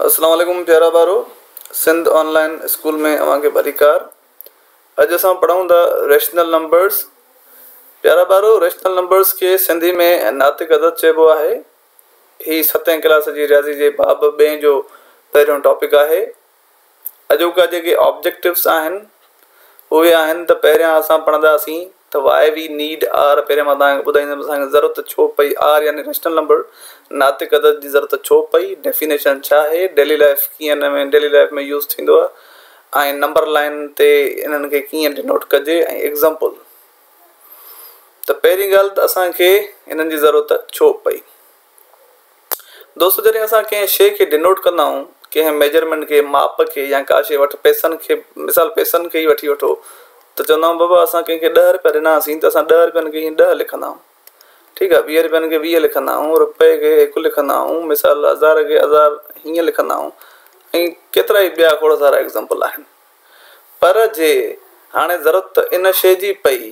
السلام عليڪم پيارا ٻارو سنڌ آن لائن اسڪول ۾ اوهان کي ڀليڪار اڄ اسان پڙهون ٿا ريشنل نمبرز پيارا ٻارو ريشنل نمبرز کي سنڌي ۾ ناطق عدد چئبو آهي هي ستين ڪلاس جي رياضي جي باب ٻئين جو پهريون ٽاپڪ آهي اڄوڪا جيڪي آبجيڪٽوس آهن اهي آهن ته پهريان اسان پڙهندا سين ته وائي وي نيڊ آر پهريان مان توهان کي ٻڌائيندم اسان کي ضرورت ڇو پئي آر يعني ريشنل نمبر ناطق عدد جي ضرورت ڇو پئي ڊيفينيشن ڇا آهي ڊيلي لائف ڪيئن ان ۾ ڊيلي لائف ۾ يوز ٿيندو آهي ۽ نمبر لائين تي انهن کي ڪيئن ڊينوٽ ڪجي ۽ ايگزامپل ته پهرين ڳالهه ته اسان کي انهن جي ضرورت ڇو پئي. دوستو جڏهن اسان ڪنهن شيء کي ڊينوٽ ڪندا آهيون، ڪنهن ميجرمينٽ کي، ماپ کي يا ڪا شيء وٺ پئسن کي مثال پئسن کي ئي وٺي وٺو ته چوندا آهيون بابا اسان ڪنهن کي ڏهه رپيا ڏناسين ته اسان ڏهه رپين کي هيئن ڏهه لکندا آهيون ٺيڪ آهي ويهه رپين کي ويهه لکندا آهيون رپئي کي هڪ لکندا آهيون مثال هزار کي هزار هيئن لکندا آهيون ۽ ڪيترا ئي ٻيا کوڙ سارا ايگزامپل آهن پر جي هاڻي ضرورت ان شيء جي پئي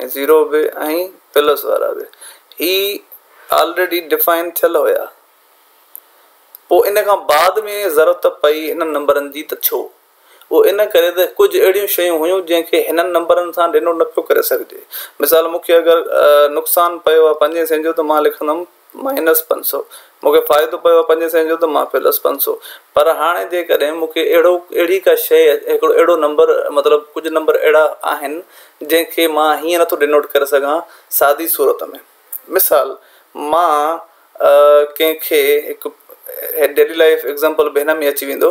۽ زيرو به ۽ پلس وارا به هي آلريڊي ڊفائن ٿيل هيا پوء ان کان بعد ۾ ضرورت پئي انهن نمبرن جي ته ڇو؟ اهو ان ڪري ته ڪجهه اهڙيون شيون هيون جنهن کي هنن نمبرن سان ڊينوٽ نه پيو ڪري سگهجي مثال مون کي اگر نقصان پيو آهي پنجين سين جو ته مان لکندم. مائنس پنج سؤ مون کي فائدو پيو آهي پنجين سئين جو ته مان پلس پنج سؤ پر هاڻي جيڪڏهن مون کي اهڙو اهڙي ڪا شيء هڪڙو اهڙو نمبر مطلب ڪجهه نمبر اهڙا آهن جنهن کي مان هيئن نٿو ڊنوٽ ڪري سگهان سادي صورت ۾ مثال مان ڪنهن کي هڪ ڊيلي لائف ايگزامپل به هن ۾ اچي ويندو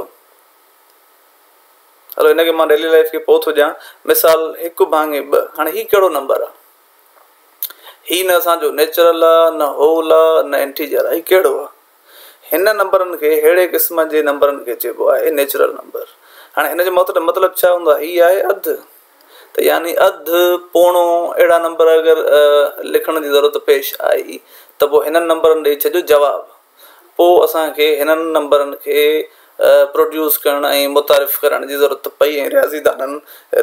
هلو هن کي مان ڊيلي لائف کي پوء ٿو ڏيان مثال هڪ ڀاڱي ٻه هاڻي هي ڪهڙو نمبر آهي هي نه اسان جو نيچرل آ، نه هول آ، نه انٽيجر آ، هي ڪهڙو آ؟ هن نمبرن کي ههڙي قسم جي نمبرن کي چئبو آهي نيچرل نمبر. هاڻي هن جو مطلب ڇا هوندو آهي؟ هي آهي اڌ ته يعني اڌ، پوڻو اهڙا نمبر اگر لکڻ جي ضرورت پيش آئي ته پوء هنن نمبرن ڏئي ڇڏيو جواب. پوء اسان کي هنن نمبرن کي پروڊيوس ڪرڻ ۽ متعارف ڪرائڻ جي ضرورت پئي ۽ رياضيدانن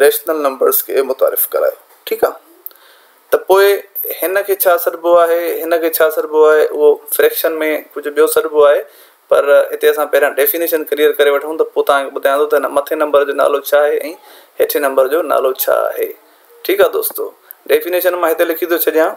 ريشنل نمبرز کي متعارف ڪرايو ٺيڪ آ ته پوء هن کي ڇا سڏبو آهي هن کي ڇا سڏبو آهي اهو فريڪشن ۾ ڪجهه ٻيو سڏبو آهي پر هتي اسان پهريان ڊيفينيشن ڪليئر ڪري وٺون ته پوء توهان کي ٻڌايان ٿو ته هن مٿين نمبر جو نالو ڇا آهي ۽ هيٺين نمبر جو نالو ڇا آهي ٺيڪ آ دوستو ڊيفينيشن مان هتي لکي ٿو ڇڏيان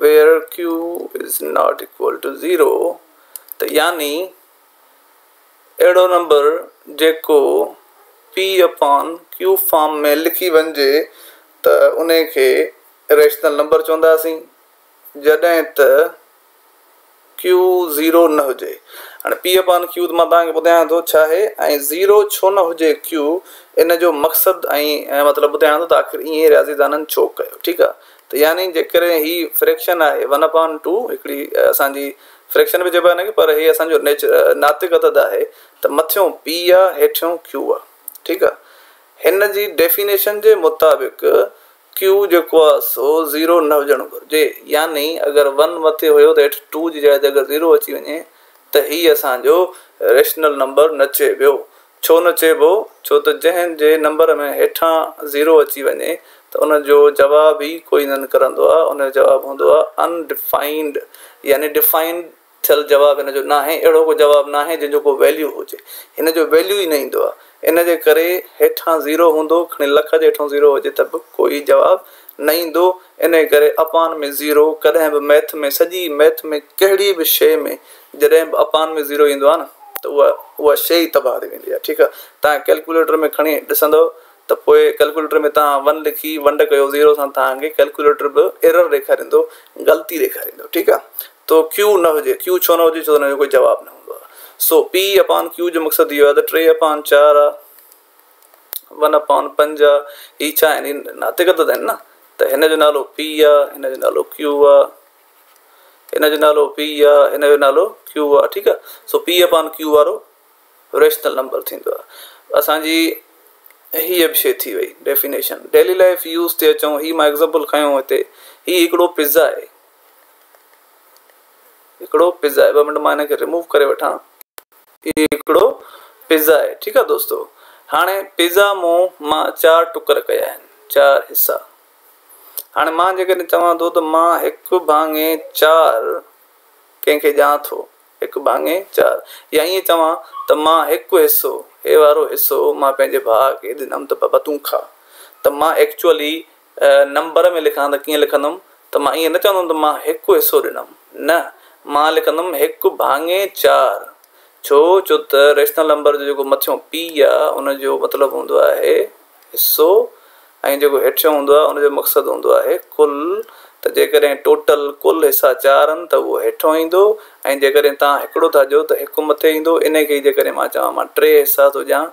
where q is not equal to zero ته يعني اهڙو نمبر جيڪو پي اپان ڪيو فارم ۾ لکي وڃجي ته انهي کي ريشنل نمبر چونداسين جڏهن ته ڪيو زيرو نه هجي هاڻي پي اپان ڪيو ته مان توهان کي ٻڌايان ٿو ڇا آهي ۽ زيرو ڇو نه هجي ڪيو ان جو مقصد ۽ مطلب ٻڌايان ٿو ته آخر ائين رياضي دانن ڇو ڪيو ٺيڪ آهي ته يعني جيڪڏهن هي فريڪشن آهي ون اپان ٽو هڪڙي اسانجي فريڪشن به چئبو آهي هنکي پر هي اسانجو نيچر ناتڪ عدد آهي ته مٿيون پي آهي هيٺيون ڪيو آهي ٺيڪ آهي هن جي ڊيفينيشن جي مطابق Q جيڪو آهي سو زيرو نه هجڻ گهرجي يعني اگر ون مٿي هيو ته هيٺ ٽو جي جاء تي اگر زيرو اچي وڃي ته هي اسان جو ريشنل نمبر نه چئبيو ڇو نه چئبو ڇو ته جنهن جي نمبر ۾ هيٺان زيرو اچي وڃي ته ان جو جواب ئي ڪوئي نه نڪرندو آهي ان جو جواب هوندو آهي ان ڊفائنڊ يعني ڊفائنڊ ٿيل جواب هن جو ناهي، اهڙو ڪو جواب ناهي جنهن جو ڪو ويليو هجي، هن جو ويليو ئي نه ايندو آهي، ان جي ڪري هيٺان زيرو هوندو، کڻي لک جي هيٺون زيرو هجي ته به ڪوئي جواب نه ايندو، انهي ڪري اپان ۾ زيرو ڪڏهن به ميٿ ۾ سڄي ميٿ ۾ ڪهڙي به شيء ۾ جڏهن به اپان ۾ زيرو ايندو آهي نه ته اها اها شيء ئي تباهه ٿي ويندي آهي ٺيڪ آهي تهان ڪيلڪوليٽر ۾ کڻي ڏسندؤ ته پوء ڪيلڪوليٽر ۾ تهان ون لکي ونڊ ڪيو زيرو سان تهان کي ڪيلڪوليٽر به ايرر ڏيکاريندو غلطي ڏيکاريندو ٺيڪ آهي. تو Q نه هجي، Q ڇو نه هجي؟ ڇو ته ان جو ڪوئي جواب نه هوندو آهي. سو P اپان Q جو مقصد اهو آهي ته ٽي اپان چار آهي، ون اپان پنج آهي، هي ڇا آهن؟ هي ناتڪ عدد آهن نه، ته هن جو نالو P آهي، هن جو نالو Q آهي، هن جو نالو P آهي، هن جو نالو Q آهي، ٺيڪ آهي، سو P اپان Q وارو ريشنل نمبر ٿيندو آهي. اسان جي هيء به شيء ٿي وئي ڊيفينيشن. ڊيلي لائيف يوز تي اچون، هي مان ايگزامپل کنيو هتي، هي هڪڙو پزا آهي. هڪڙو پزا آهي ٻه منٽ مان هن کي ريموو ڪري وٺان هي هڪڙو پزا آهي ٺيڪ آهي دوستو هاڻي پزا مون مان چار ٽڪر ڪيا آهن چار حصا هاڻي مان جيڪڏهن چوان ٿو ته مان هڪ ڀاڱي چار ڪنهن کي ڄان ٿو هڪ ڀاڱي چار يا ائين چوان ته مان هڪ حصو هي وارو حصو مان پنهنجي ڀاء کي ڏنم ته بابا تون کاء ته مان ايڪچوئلي نمبر ۾ لکان ته ڪيئن لکندم ته مان ائين نه چوندم ته مان هڪ حصو ڏنم نه مان لکندم هڪ ڀاڱي چار ڇو جو ته ريشنل نمبر جو جيڪو مٿيون پي آ ان جو مطلب هوندو آهي حصو ۽ جيڪو هيٺيون هوندو آهي ان جو مقصد هوندو آهي ڪل ته جيڪڏهن ٽوٽل ڪل حصا چار آهن ته اهو هيٺون ايندو ۽ جيڪڏهن توهان هڪڙو ٿا چئو ته هڪ مٿي ايندو انهي کي جيڪڏهن مان چوان مان ٽي حصا ٿو ڏيان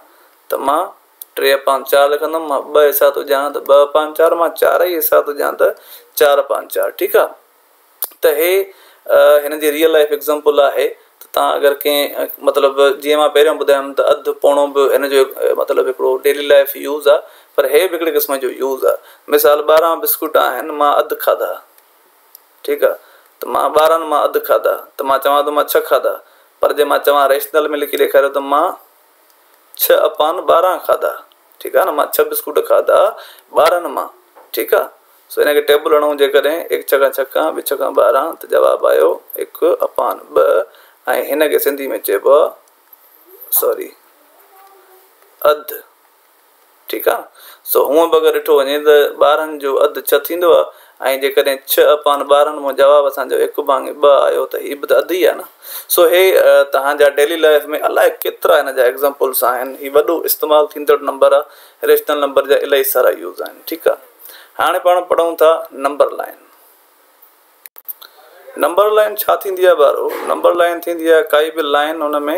ته مان ٽي اپان چار لکندم مان ٻه حصا ٿو ڄاڻان ته ٻه اپان چار مان چارئي حصا ٿو ڄاڻان ته چار اپان چار ٺيڪ آ ته هي هن جي ريئل لائف ايگزامپل آهي ته تان اگر ڪنهن مطلب جيئن مان پهريون ٻڌايم ته اڌ پوڻو به هن جو مطلب هڪڙو ڊيلي لائف يوز آ پر هي به هڪڙي قسم جو يوز آ مثال ٻارهن بسڪوٽ آهن مان اڌ کاڌا ٺيڪ آ ته مان ٻارهن مان اڌ کاڌا ته مان چوان ٿو مان ڇهه کاڌا پر جي مان چوان ريشنل ۾ لکي ڏيکاريو ته مان ڇهه اپان ٻارهن کاڌا ٺيڪ آهي نه مان ڇهه بسڪوٽ کاڌا ٻارهن مان ٺيڪ آهي سو ان کي ٽيبل هڻون جيڪڏهن هڪ ڇڪان ڇڪان ٻي ڇڪان ٻارهن ته جواب آيو هڪ اپان ٻه ۽ هن کي سنڌي ۾ چئبو آهي سوري اڌ ٺيڪ آ سو هونء به اگر ڏٺو وڃي ته ٻارهن جو اڌ ڇهه ٿيندو آ ۽ جيڪڏهن ڇهه اپان ٻارهن مان جواب اسان جو هڪ ڀاڱي ٻه آيو ته هي به ته اڌ ئي آ نه سو هي توهان جا ڊيلي لائيف ۾ الاء ڪيترا هن جا ايگزامپلس آهن هي وڏو استعمال ٿيندڙ نمبر آ ريشنل نمبر جا الاهي سارا يوز آهن ٺيڪ آ هاڻي پاڻ پڙهون ٿا نمبر لائين نمبر لائين ڇا ٿيندي آ ٻارو نمبر لائين ٿيندي آ ڪائي به لائين ان ۾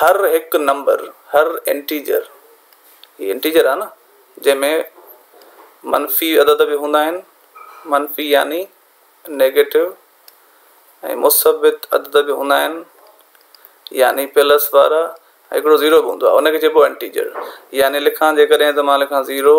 هر هڪ نمبر، هر انٽيجر، هي انٽيجر آهي نه، جنهن ۾ منفي عدد به هوندا آهن، منفي يعني نيگيٽو، ۽ مثبت عدد به هوندا آهن، يعني پلس وارا، ۽ هڪڙو زيرو به هوندو آهي، ان کي چئبو آهي انٽيجر، يعني لکان جيڪڏهن ته مان لکان زيرو.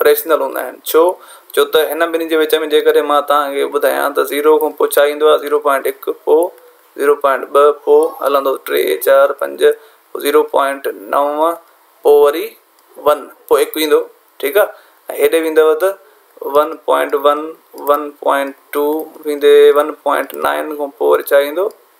ريشنل هوندا آهن ڇو جو ته هن ٻنهي جي وچ ۾ جيڪڏهن مان توهان کي ٻڌايان ته زيرو کان پوء ڇا ايندو آهي زيرو پوائنٽ هڪ پوء زيرو پوائنٽ ٻه پوء هلندو ٽي چار پنج پوء زيرو پوائنٽ نو پوء وري ون پوء هڪ ايندو ٺيڪ آهي ۽ هيڏي ويندو ته one point one one point two ويندي ون پوائنٽ نائن کان پوء وري ڇا ايندو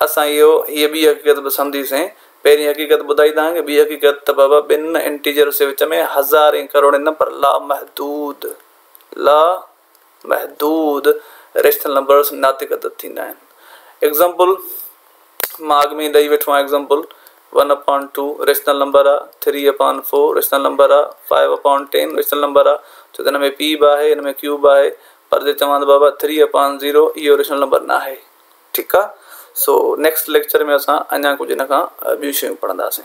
اسان اهو هيء ٻي حقيقت به سمجهي سين. پهرين حقيقت ٻڌائي توهان کي، ٻي حقيقت ته بابا ٻن انٽيجرز جي وچ ۾ هزارين ڪروڙين نه پر لامحدود، لا محدود، ريشنل نمبرز ناطق عدد ٿيندا آهن. ايگزامپل مان اڳ ۾ ئي ڏئي ويٺو آهيان example one upon two rational number آ، three upon four rational number آ، five upon ten rational number آ ڇو ته هن ۾ پي به آهي هن ۾ ڪيو به آهي پر جي چوان ته بابا ٿري اپان زيرو اهو ريشنل نمبر ناهي ٺيڪ آ سو نيڪسٽ ليڪچر ۾ اسان اڃا ڪجهه ان کان ٻيون شيون پڙهنداسين.